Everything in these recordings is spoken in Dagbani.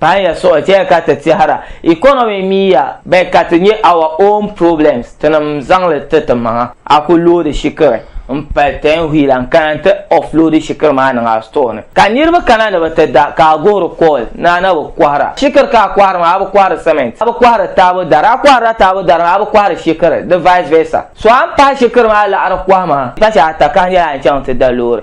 Paɣa ya suɣi ti ya ka ti tɛhira economy mi ya bɛ ka ti nyɛ our own problems tinim zaŋli ti ti maŋa a ku loodi shikiri n pali ten wheeler n kana nti offloadi shikiri maa niŋ a store ni ka niriba kana ni bɛ ti da ka a guhiri call ni a na bi kɔhira shikiri ka a kɔhiri maa a bi kɔhiri cement a bi kɔhiri taabo dari a kɔhirila taabo dari maa a bi kɔhiri shikiri di vice versa so a ni pahi shikiri maa laɣiri kɔhima pachi ata ka nyɛla a ni chaŋ ti da loori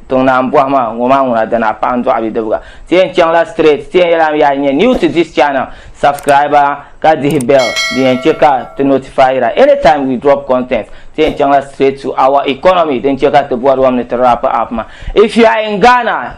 tiŋ naan bɔhi ma ŋɔ maa ŋuna dini a paɣa n dɔɣi bidibga ti yɛn chaŋla straight ti yɛn yɛla am yaa nyɛ new to this channel subscriber ka dihi bell din yɛn chɛ ka ti notifyira anytime we drop content ti yɛn chaŋla straight to our economy din chɛ ka ti bɔri wam ni ti wrap up ma if you are in Ghana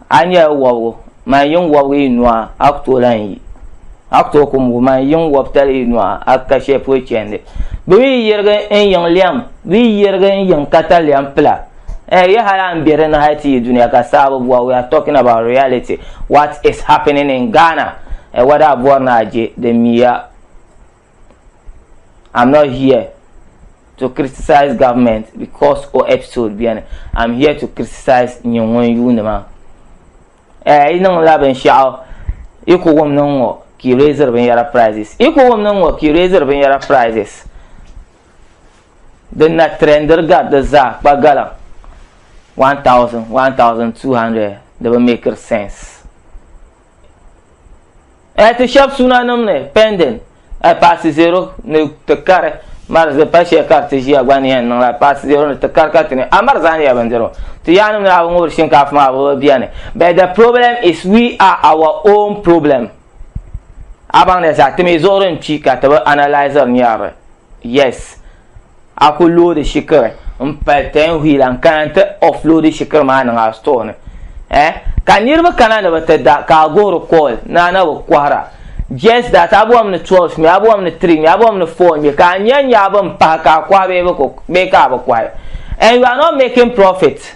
A nyɛla wɔbigu, man yiŋ wɔbigu yi nua, a ku tooi lahi yi. A ku tooi kumbu, man yiŋ wɔbitali yi nua, a ka shɛli polo chɛndi. Bɛ mi yi yirigi n yiŋ lɛm, bɛ yi yirigi n yiŋ katalɛm pila. Ɛɛ, yi hali a ni be di ni hali ti yi dunia ka saa bi bɔra, we are talking about reality, what is happening in Ghana, ɛɛ, whether a bɔri ni a je, di miya. I'm not here to criticize government because o episode beni. I'm here to criticize nyɛ ŋun yuuni maa. Eh, yi niŋla binshaɣu yi ku wum niŋ ŋɔ ka yi raisiri binyɛra prices. Yi ku wum niŋ ŋɔ ka yi raisiri binyɛra prices. Din na trendiri gari di zaa kpa gala 1000, 1200 di bi make sense. e ti shɛb sunanim ni pending e paasi zero ni ti kari mari di pa shɛli ka ti ʒiya gba ni yɛn niŋla paasi zero ni ti kari ka ti ni a mari zaaniya bindirigu ti yaannim ni a bi ŋubiri shinkaafa maa bi bi bɛni but the problem is we are our own problem a baŋ ni sa ti mi zuɣuri n kpi ka ti bi analyzer nyɛri yes A ku loodi shikiri n pali ten hui la n kana n ti offloadi shikiri maa niŋ a store ni eh ka niriba kana ni bi ti da ka a guhiri call ni a na bi kɔhira just that a bɔhim ni 12 ŋmɛ a bɔhim ni 3 ŋmɛ a bɔhim ni 4 ŋmɛ ka a nya n nya a bin pahi ka a kɔhi bee ka a bi kɔhi and you are not making profit.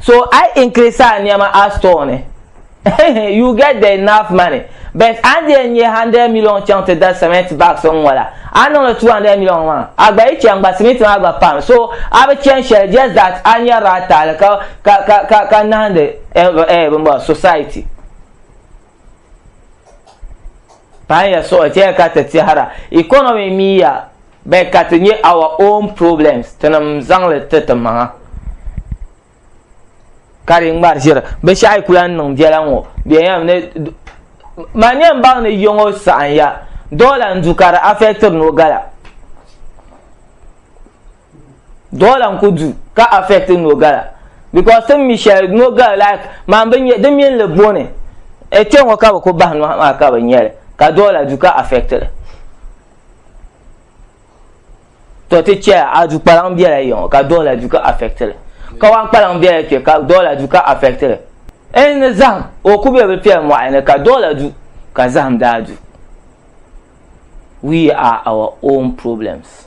so a yi increase a niɛma a store ni you get the enough money but a ni yɛn nyɛ hundred million chaŋ ti da cement bags n ŋɔ la a ni niŋdi two hundred million maa a gba yi chɛn gba cement maa gba pam so a bi chɛn shɛli just that a nyɛrila a taali ka ka ka ka ka nahindi eh, eh, eh, society. Paɣa ya so ti ya ka ti tɛhira economy mi ya bɛ ka ti nyɛ our own problems tinim zaŋli ti ti maŋa ka di ŋmari ʒiri binshaɣu kula niŋ biɛla ŋo bɛyam ni ma nyɛ n baŋ ni yɔŋo saɣanya doola n du ka di afɛktiri nogala doola n ku du ka affect nogala because tin mi shɛli nogala like man bi nyɛ di mini li boni e kpɛ ŋɔ ka bi ku bahi nɔhi maa ka bi nyɛli ka doola du ka affect li to ti chɛ a du kpalaŋ biɛla yɛŋɔ ka doola du ka affect li kawan kpalaŋ biɛla kpɛ ka doola du ka affect li en ni zaham o ku bɛ bi kpɛ mɔɣu ni ka doola du ka zaham daa du we are our own problems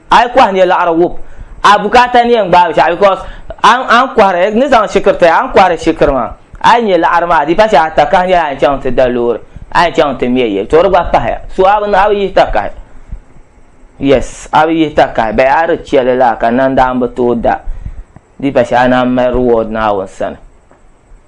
a yi kɔhi niɛ laɣiri wub a bukaata niɛ n-gbaai shɛɣu because a ni kɔhiri ni zaŋ shikiri ti a ni kɔhiri shikiri maa a yi niɛ laɣiri maa di pa shɛli a takahi nyɛla a ni chaŋ ti da loori a ni chaŋ ti mɛ yili to di gba pahi ya so a bi a bi yihi takahi yes a bi yihi takahi bɛ a di chɛli laa ka nandaan bi tooi da di pa shɛli a naan mali reward Naawuni sani.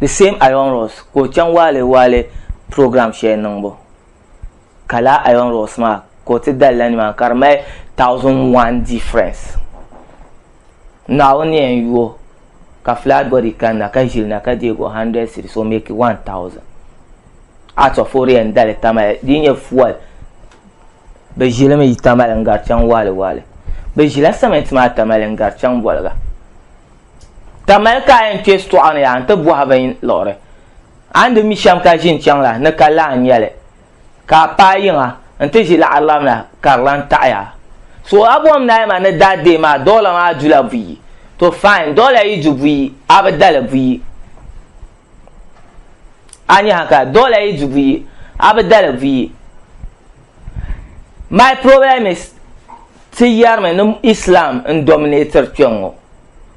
The same Iron Ross ka o chaŋ waale waale program shɛli niŋbu ka laa Iron Ross maa ka o ti dalila nimaani ka di mali thousand one difference. Naawuni yɛn yu o ka flat body kanna ka ʒili na ka deeg o hundred cedis o make one thousand out of o di yɛn dali Tamale di nyɛ fuel bɛ ʒilimi yi Tamale n-gari chaŋ waale waale. Bɛ ʒila cement maa Tamale n-gari chaŋ Boliga. Ka mali ka a yɛn kpe sitɔɣu ni yaa nti bɔhi bin liɣiri. A ni di mi shɛm ka ʒin chaŋ la, ni ka lahi nya li. Ka a paai yiŋa nti ʒi laɣirilam la ka di lan taɣi a. So a bom naai ma ni daa deei ma dɔla maa du la buyi? To fine, dɔla yi du buyi, a bi da li buyi. A nya ha ka, dɔla yi du buyi, a bi da li buyi. My problem is. Ti yarimi ni Islam n dominator kpeŋɔ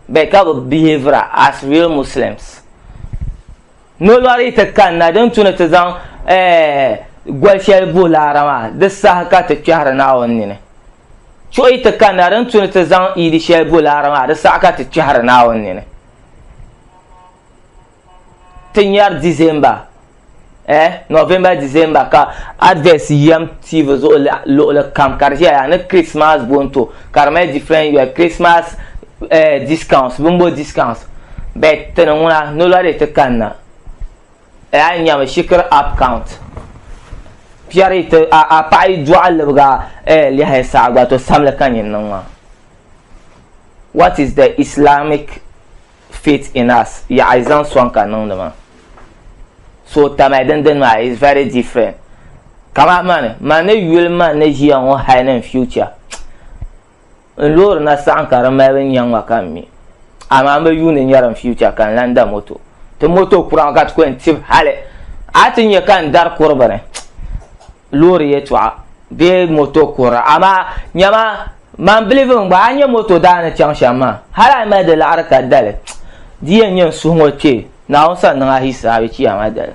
bɛ ka bɛ behavior as real Muslims. Nolɔri ti kanna din tu ni ti zaŋ eh goli shɛli buhi laara maa di saha ka ti kpɛhiri Naawuni nini. Chuɣi ti kanna din tu ni ti zaŋ iidi shɛli buhi laara maa di saha ka ti kpɛhiri Naawuni nini. ti nyari December eh November December ka adverts yam TV zuɣu luɣuli kam ka di ʒeya yaa ni Christmas bonto ka di mali different year Christmas eh discounts bimbo discounts but ti ni ŋuna nola di ti kanna eh a yi nyami shikiri app count piɛri ti a paɣa yi dɔɣi libiga eh lɛhi saɣa gba to samli ka nyin niŋ maa what is the Islamic faith in us yaɣi zaŋ sɔŋ ka niŋdi maa so tamali din dini maa is very different kama mani man ni yuli man ni ʒiya ŋɔ hali ni n future n loori na saɣam ka di mali bin nyɛŋ ma ka n mi amaa n bi yuuni nyɛri n future ka n lan da moto ti moto kura ka ti kɔni tib hali a ti nyɛ ka n dari kuri bini loori yɛtɔɣa bee moto kuhira amaa nyɛma man bilifu n gba a nyɛ moto daani chaŋ shɛm maa hali a mali di laɣari ka dali di yɛn nyɛ n suhu ŋɔ kpɛ naawuni sani niŋ a hisaabi kiyama dali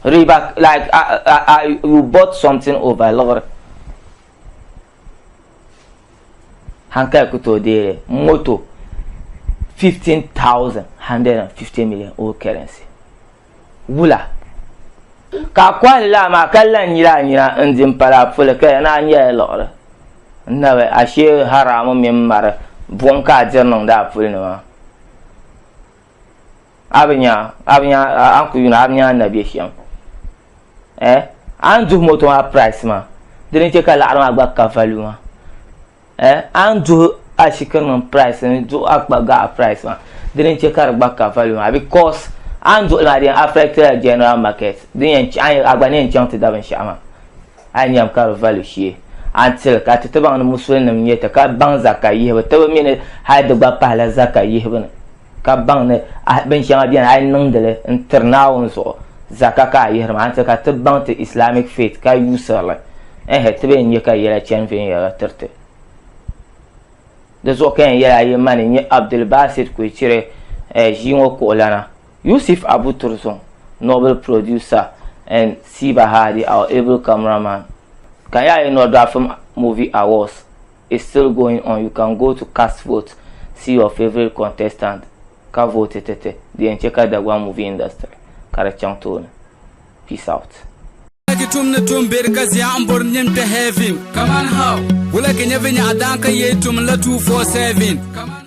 riba like a, a, a, you bought something over liɣiri hankali ku tooi deeri moto 15150 million old currency wula ka a kɔhili laa maa ka lan nyila a nyina n-di m-pali a puli ka ya ni a nyɛla liɣiri nabi ashe haramu mini mari buɣim ka a diri niŋdi a puli ni maa a bi nya a bi nya a ni ku yuuna a bi nya na be shɛm eh a ni duhi moto maa price maa dini che ka liɣiri maa gba ka value maa Eh, a ni duhi ashikirinim price ni duhi akpa gaɣa price maa, dini n-che ka di gba ka value maa because a ni duhi li maa di yɛn affect la general market din yɛn che a gba ni yɛn chaŋ ti da binshɛɣu maa a ni yɛm ka di value shee a ni tili ka ti ti baŋ ni musulinim n-nyɛ ti ka baŋ zaka yihibu tibu mi ni hali di gba pahila zaka yihibu ni. ka baŋ ni bin shɛŋa bɛni a yi niŋdili n tiri naawuni zuɣu zaka ka a yihiri maa nti ka ti baŋ ti islamic faith ka yuusirili ɛhɛ ti bɛn nyɛ ka yɛla chani viɛnyɛliŋga tiriti di zuɣu ka yɛn yɛla yi mani nyɛ abdul basit kuichiri ʒii ŋɔ kuɣulana yusuf abu turzon novel producer and siba hadi our able cameraman ka yaa yi nɔri dɔafim movie awards It's still going on you can go to cast vote see your favorite contestant ka vote ti ti di yɛn chɛ ka Dagbaŋ movie industry ka di chaŋ tooni peace out. Wulagi tum ni tum beri ka zia n bori nim kpɛ heaven. Kaman how? Wulagi nyɛ vi nyaɣa daan ka yee tum la 247. Kaman